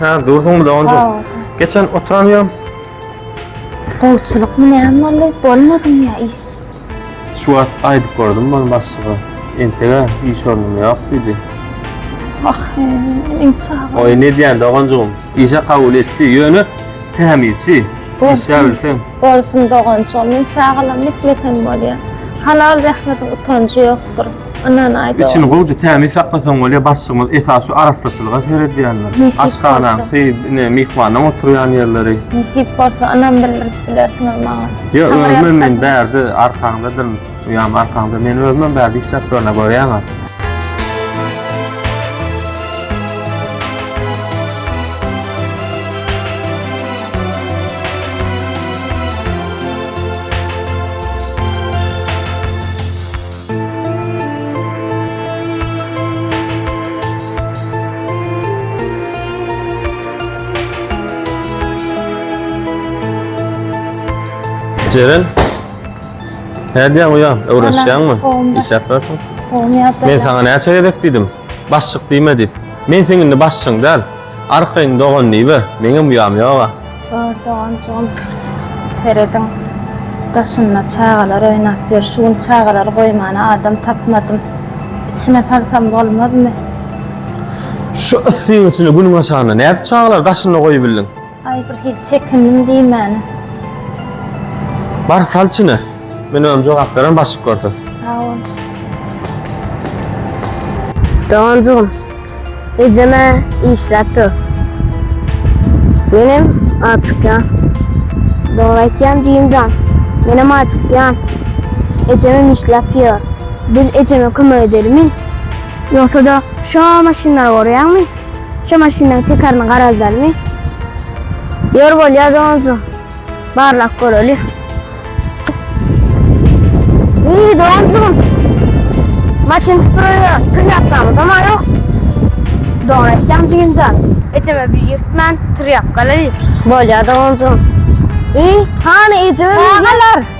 Ha, dursun bile onda. Sağ ol. Geçen oturan ýerim. Gowçulykmy näme boldy? Bolmadymy ýa iş? Şu wagt aýdyp gördüm ben başlyga. Entege iş ornum ýok diýdi. Wah, inçe aga. Oý ne diýen doganjygym. Işe kabul etdi. Ýöne tämizçi. Işe bilsen. Bolsun doganjygym. Men çagalam etmesem bolýar. Halal zähmetiň utanjy ýokdur. Ynhan aýt. Içini gowja tämiz saklasaň bolýar, başlygymyz esas şu arassaçylyga seredýändir. Aşhanaň, ne myhmanyň oturýan ýerleri. Nesip bolsa ynam bildirip bilersiň maňa. Ýa özüm men bärde arkaňdadyryn, uýam arkaňda. Men özüm bärde işläp durana görýäňä. Ceren. Ne diýen uýa? Öwrenişýäňmi? Iş ýatrasyň. Men sana näçe gezek diýdim? Başçyk diýme diýip. Men seň indi başçyň däl. Arkaýyn dogan diýiber, meňem uýam ýoga. Bar doganjygym, serediň, daşynda çagalar oýnap ýör. Şu gün çagalary goýmana adam tapmadym. Içine salsam bolmazmy? Şu yssy-gyjyly günüň aşagynda nädip çagalary daşynda goýubildiň? Aý bir hili çekindim diýmäne. Bar sal içine. Men özüm jogap beren başlyk görse. Sag bol. Doganjygym. Ejeme işläp dur. Menem açykýan. Dogry aýtýan jigimjan. Menem acykýan. Ejemem işläp ýör. Biz ejeme kömek edelimi? Ýogsa-da şo maşynlary görýäňmi? Şu maşynyň tikaryny garaşalymy? Ýör bolýa doganjy barlap göreli. Eý doganjygym. Maşyn süpürelä tyr ýapdamyzam ýok. Dogry aýtýaň jigimjan. Ejeme bir ýyrtman tyr ýapgalaly. Bolýa doganjygym. Eý hany ejeme. Çagalar.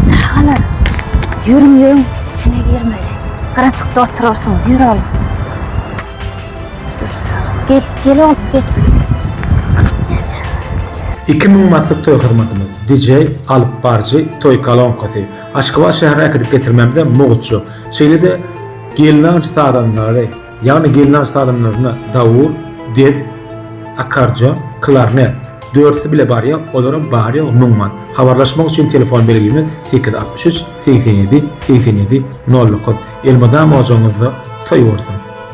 Çagalar, ýörüň ýörüň, içine girmeli. Gyrajykda oturarsyňyz, ýör oglum. Ýör çagam, gel, gel oglum, gel. Iki müň manatlyk toý hyzmatymyz, DJ, alyp baryjy, toý kolonkasy, Aşgabat şäherine äkidip getirmämize mugt ýok. Şeýle-de gelnaýç sazandalary, ýagny gelnaj sazandaryna dawul, dep, akkardeon, klarnet, dörtüsi bile barýa, olaram bary-ýogy müň man. Habarlaşmak üçin telefon belgimiz sekiz altmyş üç segsen ýedi segsen ýedi nol dokuz. Elmydama ojagyňyzda toý bolsun!